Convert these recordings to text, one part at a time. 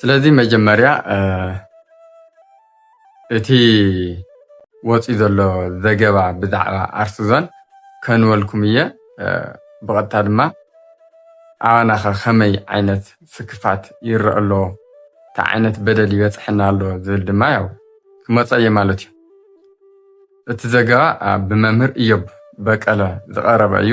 ስለዚ መጀመርያ እቲ ወፂኡ ዘሎ ዘገባ ብዛዕባ ኣርሲ ዞን ከንበልኩም እየ ብቐጥታ ድማ ኣባና ኸ ከመይ ዓይነት ስክፋት ይረአ ኣሎ እንታይ ዓይነት በደል ይበፅሐና ኣሎ ዝብል ድማ ያው ክመፀ እየ ማለት እዩ እቲ ዘገባ ብመምህር እዮብ በቀለ ዝቐረበ እዩ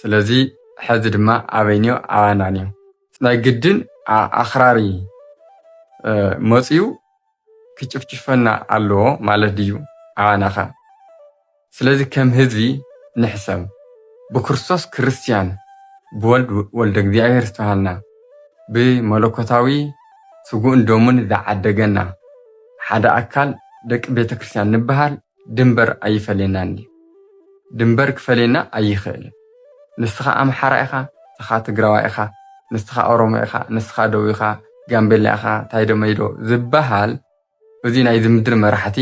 ስለዚ ሐዚ ድማ ኣበይንዮ ኣባናንዮ ናይ ግድን ኣኽራሪ መፅዩ ክጭፍጭፈና ኣለዎ ማለት ድዩ ኣባናኸ ስለዚ ከም ህዝቢ ንሕሰብ ብክርስቶስ ክርስትያን ብወልድ ወልደ እግዚኣብሔር ዝተባሃልና ብመለኮታዊ ስግኡን ደሙን ዝዓደገና ሓደ ኣካል ደቂ ቤተክርስትያን ንበሃል ድንበር ኣይፈለየናን ድዩ? ድንበር ክፈልየና ኣይኽእልን። ንስኻ ኣምሓራ ኢኻ፣ ንስኻ ትግራዋይ ኢኻ፣ ንስኻ ኦሮሞ ኢኻ፣ ንስኻ ደው ኢኻ፣ ጋምቤላ ኢኻ፣ ታይዶ መይዶ ዝበሃል እዚ ናይ ዝምድር መራሕቲ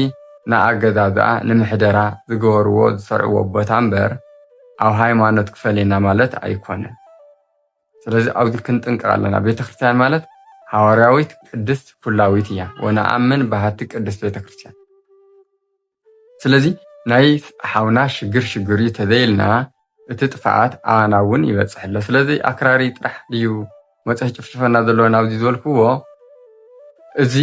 ንኣገዛዝኣ፣ ንምሕደራ ዝገበርዎ ዝሰርዕዎ ቦታ እምበር ኣብ ሃይማኖት ክፈልየና ማለት ኣይኮነን። ስለዚ ኣብዚ ክንጥንቅቅ ኣለና ቤተክርስትያን ማለት ሃዋርያዊት ቅድስት ኩላዊት እያ ወነኣምን ባህቲ ቅድስት ቤተክርስትያን ስለዚ ናይ ሓውና ሽግር ሽግር እዩ ተዘይልና እቲ ጥፍኣት ኣና እውን ይበፅሕ ኣሎ ስለዚ ኣክራሪ ጥራሕ ድዩ መፅሒ ጭፍጭፈና ዘለዎ ናብዚ ዝበልክዎ እዚ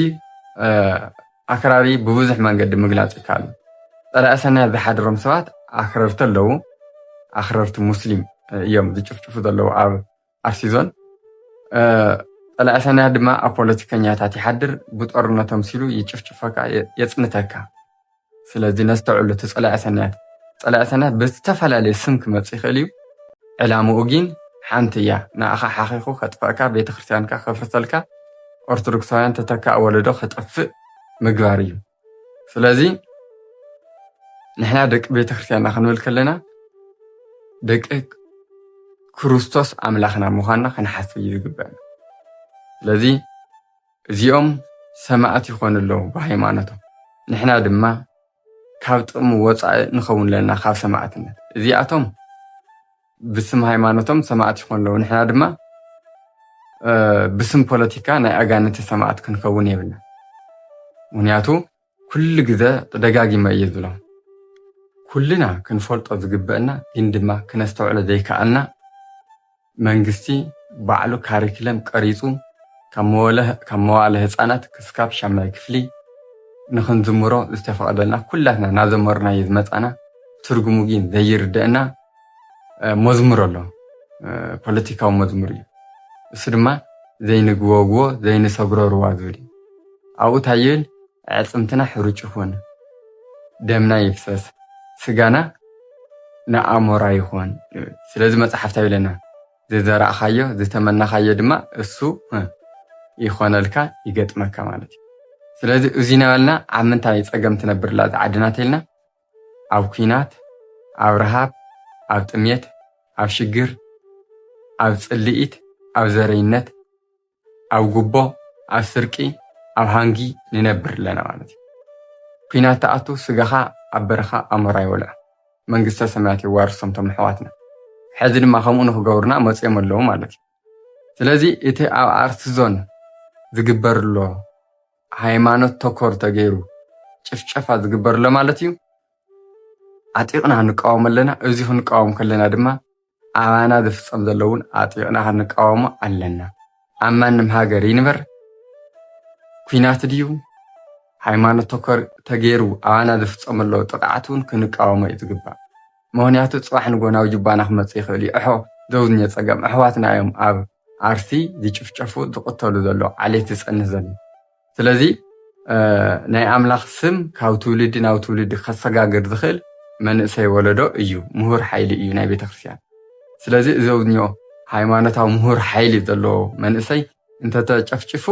ኣክራሪ ብብዙሕ መንገዲ ምግላፅ ይከኣል እዩ። ፀላኢ ሰናያት ዝሓድሮም ሰባት ኣክረርቲ ኣለዉ። ኣክረርቲ ሙስሊም እዮም ዝጭፍጭፉ ዘለዉ ኣብ ኣርሲ ዞን። ፀላኢ ሰናያት ድማ ኣብ ፖለቲከኛታት ይሓድር፣ ብጦርነት ኣምሲሉ ይጭፍጭፈካ፣ የፅንተካ። ስለዚ ነስተውዕሉ እቲ ፀላኢ ሰናያት ፀላኢ ሰናያት ብዝተፈላለየ ስም ክመፅእ ይኽእል እዩ ዕላምኡ ግን ሓንቲ እያ ንኣኻ ሓኺኹ ከጥፈእካ ቤተክርስትያንካ ከፍርሰልካ ኦርቶዶክሳውያን ተተካኢ ወለዶ ከጠፍእ ምግባር እዩ። ስለዚ ንሕና ደቂ ቤተክርስትያንና ክንብል ከለና ደቂ ክርስቶስ ኣምላኽና ምዃንና ክንሓስብ እዩ ዝግበአና። ስለዚ እዚኦም ሰማዕት ይኾኑ ኣለዉ ብሃይማኖቶም፣ ንሕና ድማ ካብ ጥቕሚ ወፃኢ ንኸውን ኣለና ካብ ሰማእትነት። እዚኣቶም ብስም ሃይማኖቶም ሰማእት ይኾኑ ኣለዉ፣ ንሕና ድማ ብስም ፖለቲካ ናይ ኣጋንንቲ ሰማእት ክንከውን የብልና። ምክንያቱ ኩሉ ግዘ ደጋጊመ እየ ዝብሎም ኩልና ክንፈልጦ ዝግበእና ግን ድማ ክነስተውዕሎ ዘይከኣልና መንግስቲ ባዕሉ ካሪክለም ቀሪፁ ካብ መዋእለ ህፃናት ክስካብ ሻምናይ ክፍሊ ንክንዝምሮ ዝተፈቐደልና ኩላትና ናዘመርናዮ ዝመፃና ትርጉሙ ጊን ዘይርደእና መዝሙር ኣሎ ፖለቲካዊ መዝሙር እዩ እሱ ድማ ዘይንግወግዎ ዘይንሰግሮ ሩባ ዝብል እዩ ኣብኡ ታይ ይብል ኣዕፅምትና ሕሩጭ ይኹን ደምና ይፍሰስ ስጋና ንኣሞራ ይኹን ስለዚ መጽሓፍ እንታይ ይብለና ዝዘራእኻዮ ዝተመናኻዮ ድማ እሱ ይኾነልካ ይገጥመካ ማለት እዩ ስለዚ እዚ ነበልና ኣብ ምንታይ ጸገም ትነብርላ እዚ ዓድና ተልና ኣብ ኩናት ኣብ ረሃብ ኣብ ጥሜት ኣብ ሽግር ኣብ ጽልኢት ኣብ ዘረይነት ኣብ ጉቦ ኣብ ስርቂ ኣብ ሃንጊ ንነብር ኣለና ማለት እዩ ኩናት ተኣቱ ስጋኻ ኣብ በረኻ ኣሞራ ይበልዖ መንግስተ ሰማያት የዋርሶም ቶም ኣሕዋትና ሕዚ ድማ ከምኡ ንክገብሩና መፅኦም ኣለዉ ማለት እዩ ስለዚ እቲ ኣብ ኣርት ዞን ዝግበርሎ ሃይማኖት ተኮር ተገይሩ ጭፍጨፋ ዝግበርሎ ማለት እዩ ዓጢቕና ንቃወም ኣለና እዚ ክንቃወም ከለና ድማ ኣባና ዝፍጸም ዘሎ እውን ኣጥቢቕና ክንቃወሞ ኣለና። ኣብ ማንም ሃገር ይንበር ኩናት ድዩ ሃይማኖት ተኮር ተገይሩ ኣባና ዝፍጸም ዘሎ ጥቕዓት እውን ክንቃወሞ እዩ ዝግባእ። ምክንያቱ ፅባሕ ንጎ ናብ ጅባና ክመፅእ ይኽእል እዩ እሖ ዘውዝኘ ፀገም ኣሕዋትና እዮም ኣብ ኣርሲ ዝጭፍጨፉ ዝቕተሉ ዘሎ ዓሌት ዝፀንህ ዘሎ ስለዚ ናይ ኣምላኽ ስም ካብ ትውልዲ ናብ ትውልዲ ከሰጋግር ዝኽእል መንእሰይ ወለዶ እዩ፣ ምሁር ሓይሊ እዩ ናይ ቤተክርስትያን። ስለዚ እዞብኞ ሃይማኖታዊ ምሁር ሓይሊ ዘለዎ መንእሰይ እንተተጨፍጭፉ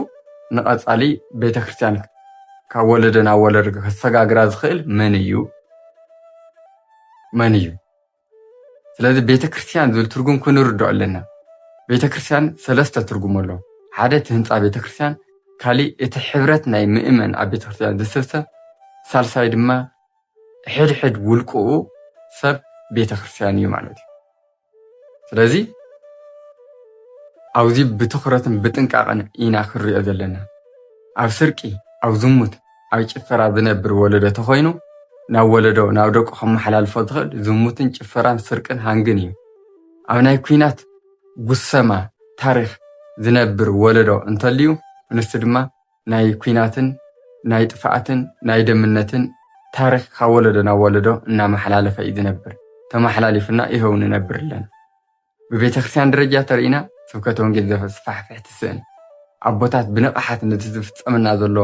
ንቐጻሊ ቤተክርስትያን ካብ ወለዶ ናብ ወለዶ ከሰጋግራ ዝኽእል መን እዩ መን እዩ? ስለዚ ቤተክርስትያን ዝብል ትርጉም ክንርድኦ ኣለና። ቤተክርስትያን ሰለስተ ትርጉም ኣሎ። ሓደ እቲ ህንፃ ቤተክርስትያን፣ ካሊእ እቲ ሕብረት ናይ ምእመን ኣብ ቤተክርስትያን ዝስብሰ፣ ሳልሳይ ድማ ሕድሕድ ውልቅኡ ሰብ ቤተክርስትያን እዩ ማለት እዩ። ስለዚ ኣብዚ ብትኹረትን ብጥንቃቐን ኢና ክንሪኦ ዘለና። ኣብ ስርቂ፣ ኣብ ዝሙት፣ ኣብ ጭፈራ ዝነብር ወለዶ ተኾይኑ ናብ ወለዶ ናብ ደቁ ከመሓላልፎ ዝኽእል ዝሙትን ጭፈራን ስርቅን ሃንግን እዩ። ኣብ ናይ ኩናት ጉሰማ ታሪኽ ዝነብር ወለዶ እንተልዩ ንሱ ድማ ናይ ኩናትን ናይ ጥፍኣትን ናይ ደምነትን ታሪኽ ካብ ወለዶ ናብ ወለዶ እናመሓላለፈ እዩ ዝነብር ተመሓላሊፉና ይሀው ንነብር ኣለና። ብቤተክርስትያን ደረጃ ተሪእና ስብከተ ወንጌል ዘስፋሕፍሕ ትስእን ኣቦታት ብንቕሓት ነቲ ዝፍጸመና ዘሎ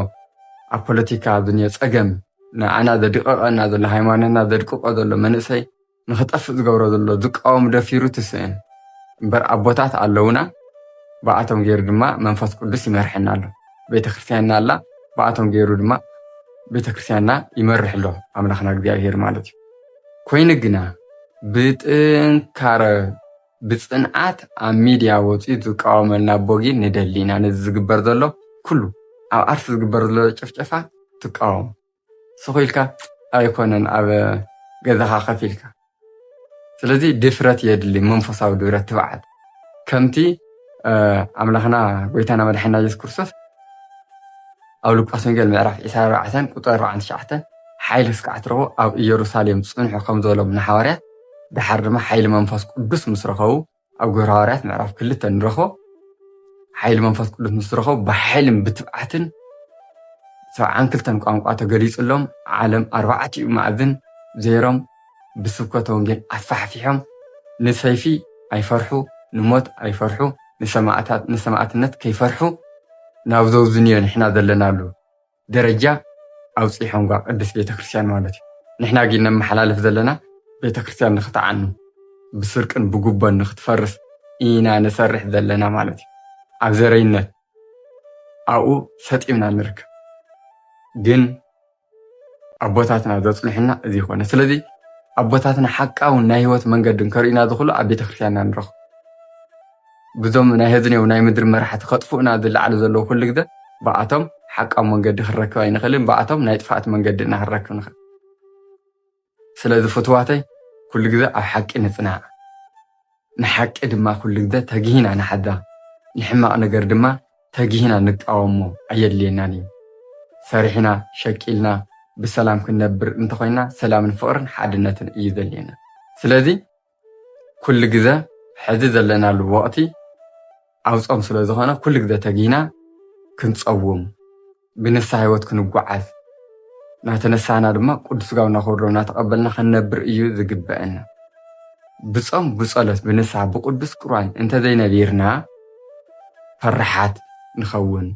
ኣብ ፖለቲካ ዝንዮ ጸገም ንኣና ዘድቕቐና ዘሎ ሃይማኖትና ዘድቅቆ ዘሎ መንእሰይ ንኽጠፍእ ዝገብሮ ዘሎ ዝቃወም ደፊሩ ትስእን እምበር ኣቦታት ኣለውና ብኣቶም ገይሩ ድማ መንፈስ ቅዱስ ይመርሐና ኣሎ ቤተክርስትያንና ኣላ ብኣቶም ገይሩ ድማ ቤተክርስትያንና ይመርሕ ኣሎ ኣምላኽና እግዚኣብሄር ማለት እዩ ኮይኑ ግና ብጥንካረ ብፅንዓት ኣብ ሚድያ ወፂኡ ዝቃወመልና ቦጊ ንደሊ ኢና ነዚ ዝግበር ዘሎ ኩሉ ኣብ ኣርሲ ዝግበር ዘሎ ጭፍጨፋ ትቃወም ስኩ ኢልካ ኣይኮነን ኣብ ገዛካ ከፍ ኢልካ ስለዚ ድፍረት የድሊ መንፈሳዊ ድፍረት ትብዓት ከምቲ ኣምላኽና ጎይታና መድሓና የሱስ ክርስቶስ ኣብ ሉቃስ ወንጌል ምዕራፍ 24 ቁጥር 49 ሓይሊ እስካዕ ትረኽቡ ኣብ ኢየሩሳሌም ጽንሑ ከም ዝበሎም ንሓዋርያት ድሓር ድማ ሓይሊ መንፈስ ቅዱስ ምስ ረኸቡ ኣብ ግብረ ሃዋርያት ምዕራፍ ክልተ ንረኽቦ ሓይሊ መንፈስ ቅዱስ ምስ ረኸቡ ብሓይልን ብትብዓትን ሰብዓን ክልተን ቋንቋ ተገሊጹሎም ዓለም ኣርባዕቲኡ ማዕዝን ዘይሮም ብስብከተ ወንጌል ኣስፋሕፊሖም ንሰይፊ ኣይፈርሑ ንሞት ኣይፈርሑ ንሰማእታት ንሰማእትነት ከይፈርሑ ናብ ዘውዝንዮ ንሕና ዘለናሉ ደረጃ ኣውጺሖምጓ ቅድስት ቤተ ክርስቲያን ማለት እዩ ንሕና ግን ነመሓላልፍ ዘለና ቤተ ክርስቲያን ንክትዓኑ ብስርቅን ብጉቦን ንክትፈርስ ኢና ንሰርሕ ዘለና ማለት እዩ ኣብ ዘረይነት ኣብኡ ሰጢምና ንርከብ ግን ኣቦታትና ዘጽንሑና እዚ ይኮነ ስለዚ ኣቦታትና ሓቃውን ናይ ህይወት መንገድን ከርእዩና ዝኽእሉ ኣብ ቤተክርስትያንና ንረኽቡ ብዞም ናይ ህዝኔው ናይ ምድሪ መራሕቲ ከጥፍኡና ዝለዓሉ ዘለዉ ኩሉ ግዘ ብኣቶም ሓቃዊ መንገዲ ክንረክብ ኣይንኽእልን ብኣቶም ናይ ጥፍኣት መንገዲ እና ክንረክብ ንኽእል ስለዚ ፍቱዋተይ ኩሉ ግዘ ኣብ ሓቂ ንፅናዕ ንሓቂ ድማ ኩሉ ግዘ ተጊህና ንሓዛ ንሕማቅ ነገር ድማ ተጊህና ንቃወሞ ኣየድልየናን እዩ ሰሪሕና ሸቂልና ብሰላም ክንነብር እንተኮይና ሰላምን ፍቅርን ሓድነትን እዩ ዘድልየና ስለዚ ኩሉ ግዘ ሕዚ ዘለናሉ ወቕቲ ኣብ ፆም ስለ ዝኾነ ኩሉ ግዘ ተጊህና ክንፀውም ብንስሓ ህይወት ክንጓዓዝ ናተነሳህና ድማ ቅዱስ ስጋው እናኸብሮ እናተቐበልና ክንነብር እዩ ዝግበአና። ብፆም ብፀሎት ብንስሓ ብቅዱስ ቁርባን እንተዘይነቢርና ፈራሓት ንኸውን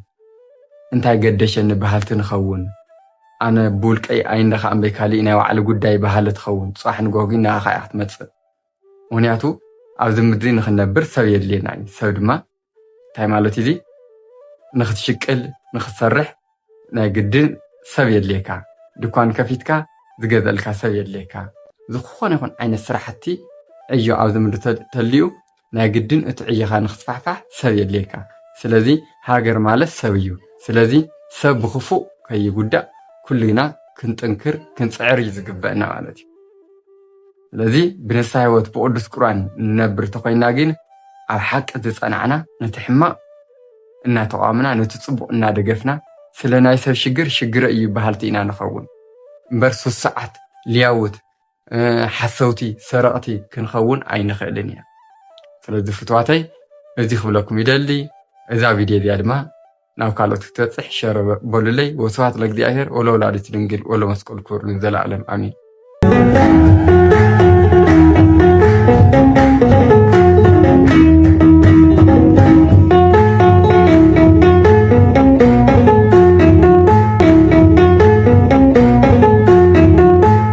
እንታይ ገደሸኒ በሃልቲ ንኸውን። ኣነ ብውልቀይ ኣይንዳ ከኣ እምበይ ካሊእ ናይ ባዕሉ ጉዳይ በሃሊ ትኸውን ፅባሕ ንጎሆ ግን ንኣኻ እያ ክትመፅእ ምኽንያቱ ኣብዚ ምድሪ ንኽንነብር ሰብ የድልየና እዩ ሰብ ድማ እንታይ ማለት እዩ እዚ ንኽትሽቅል ንኽትሰርሕ ናይ ግድን ሰብ የድልየካ ድኳን ከፊትካ ዝገዝኣልካ ሰብ የድልየካ ዝኾነ ይኹን ዓይነት ስራሕቲ ዕዮ ኣብዚ ምድሪ ተልዩ ናይ ግድን እቲ ዕዮኻ ንክስፋሕፋሕ ሰብ የድልየካ ስለዚ ሃገር ማለት ሰብ እዩ ስለዚ ሰብ ብክፉእ ከይጉዳእ ኩልና ክንጥንክር ክንጽዕር እዩ ዝግበእና ማለት እዩ ስለዚ ብንስሓ ህይወት ብቅዱስ ቁርባን ንነብር ተኮይና ግን ኣብ ሓቂ ዝጸናዕና ነቲ ሕማቅ እናተቋምና ነቲ ጽቡቅ እናደገፍና ስለ ናይ ሰብ ሽግር ሽግረ እዩ በሃልቲ ኢና ንኸውን እምበር ሱሱዓት ልያውት ሓሰውቲ ሰረቕቲ ክንኸውን ኣይንኽእልን ኢና ስለዚ ፍትዋተይ እዚ ክብለኩም ይደሊ እዛ ቪድዮ እዚኣ ድማ ናብ ካልኦት ክትበፅሕ ሸረ በሉለይ ወስብሐት ለእግዚኣብሔር ወለወላዲቱ ድንግል ወለመስቀሉ ክቡር ንዘለዓለም ኣሜን